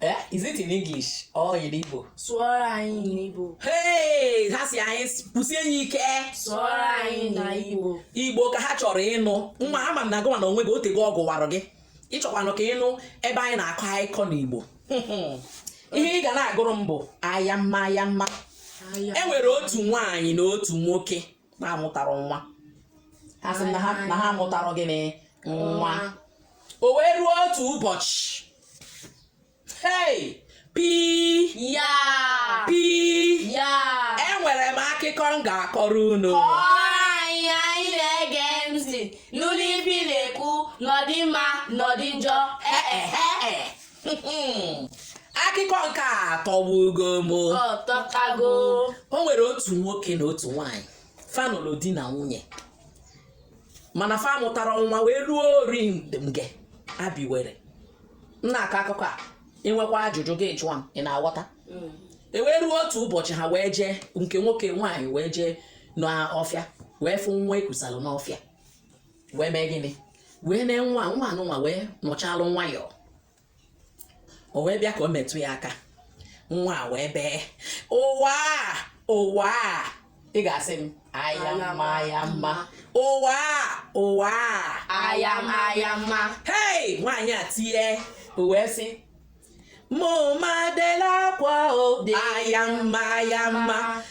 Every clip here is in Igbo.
Eh, is it in English or in Igbo? Sụọrọ anyị n'Igbo. Hey, ha sị anyị kwusie ya ike. Sụọrọ anyị na Igbo. Igbo ka ha chọrọ ịnụ. Nwa ama m na gịwa na onwe gị otego ọ gụwarụ gị. Ị chọkwanụ ka ị nụ ebe anyị na-akọ akụkọ n'Igbo. Ihe ị ga na-agụrụ m bụ ayamma ayamma. E nwere otu nwaanyị na otu nwoke na-amụtarọ nwa. Ha sị na ha amụtarọ gịnị nwa. o wee ruo otu ụbọchị hei pi ya pi ya enwere m akụkọ m ga-akọrọ unu kọọ anyị anyị na-ege ntị nụlụ ife ị na-ekwu ma ọ dị mma ma ọ dị njọ ee akụkọ nke a tọgbugo m ọ tọkago o nwere otu nwoke na otu nwaanyị fa nụlụ di na nwunye mana fa amụtarọ nwa wee ruo ori nge abi were m na-akọ akụkọ a i nwekwaa ajụjụ gị jụọ m ị na-aghọta mm. e wee ruo otu ụbọchị ha wee jee nke nwoke nwaanyị wee jee n'ọfịa wee fụ nwa e kusalụ n'ọfịa wee mee gịnị wee nee nwa nwa anụnwa wee nọchalụ nwayọọ o wee bịa ka o metụ ya aka nwa a wee bee ụwaa ụwaa ị ga-asị m ayamma ayamma ụwaa ụwaa ayamma ayamma hei nwaanyị a tie o wee sị mụ ma bela akwa o dị ayamma ayamma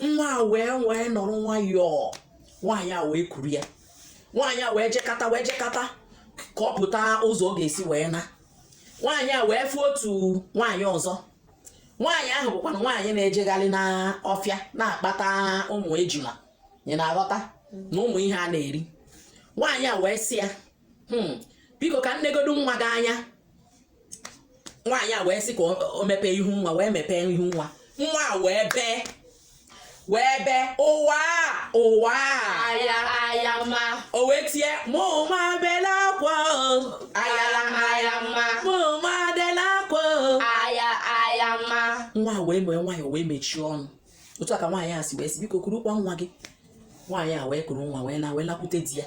nwa a wee wee nọrọ nwayọọ nwaanyị a wee kuru ya nwaanyị a wee jekata wee jekata ka ọ pụta ụzọ ọ ga-esi wee na nwaanyị a wee fụ otu nwaanyị ọzọ nwaanyị ahụ bụkwanụ nwaanyị na-ejegharị n'ọfịa na-akpata ụmụ ejula ị na-aghọta na ụmụ ihe a na-eri nwaanyị a wee sị ya hmm. biko ka m negodu nwa gị anya nwaanyị a wee sị ka o mepee ihu nwa wee mepee ihu nwa nwa a wee bee wee bee ụwaa ụwaa ayamma ayamma o wee tie mụ ma bela akwa ayamma ayamma mụ ma bela akwa ayamma ayamma nwa wee mee nwayọ wee mechie ọnụ otu a ka nwaanyị a si wee sị biko kurukwa nwa gị nwaanyị a wee kuru nwa wee na wee lakwute di ya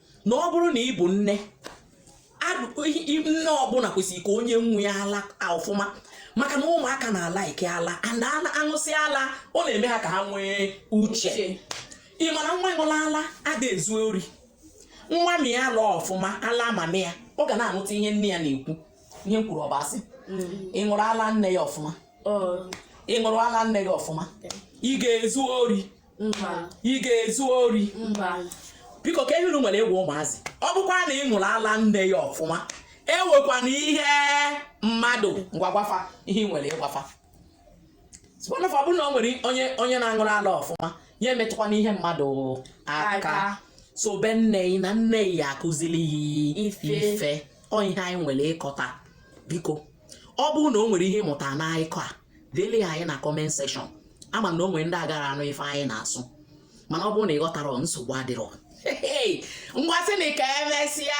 na ọ bụrụ na ị bụ nne nne ọbụla kwesịrị ka o nye nwa ya ala ọfụma maka na ụmụaka na-ala ike ala and aṅụsị ala ọ na-eme ha ka ha nwee uche ị ma na nwa ṅụlụ ala ada ezu ori nwa mịa ala ọfụma ala mummy ya ọ ga na-anụta ihe nne ya na-ekwu ihe m kwuru ọ bụ asị mm. ị ṅụrụ ala nne ya ọfụma ị ṅụrụ ala nne gị ọfụma ị ga-ezu ori ị ga-ezu ori biko ka ehuru nwere egwu ụmụazị ọ bụkwa na ị ṅụrụ ala nne gị ọfụma ewekwana ihe mmadụ ngwa gwa fa ihe nwere ịgwa fa ọ bụrụ na o nwere onye na-aṅụrụ ala ọfụma ya emetụkwana ihe mmadụ aka so be nne na nna ya akuziri ya ife ọ ihe anyị nwere ịkọ taa biko ọ bụrụ na o nwere ihe ịmụta n'akụkọ a deele anyị na comment section ama na o nwere ndị agara anụ ife anyị na-asụ mana ọ bụrụ na ị ghọtara nsogbu adịrọ ngwa sị na ka emesịa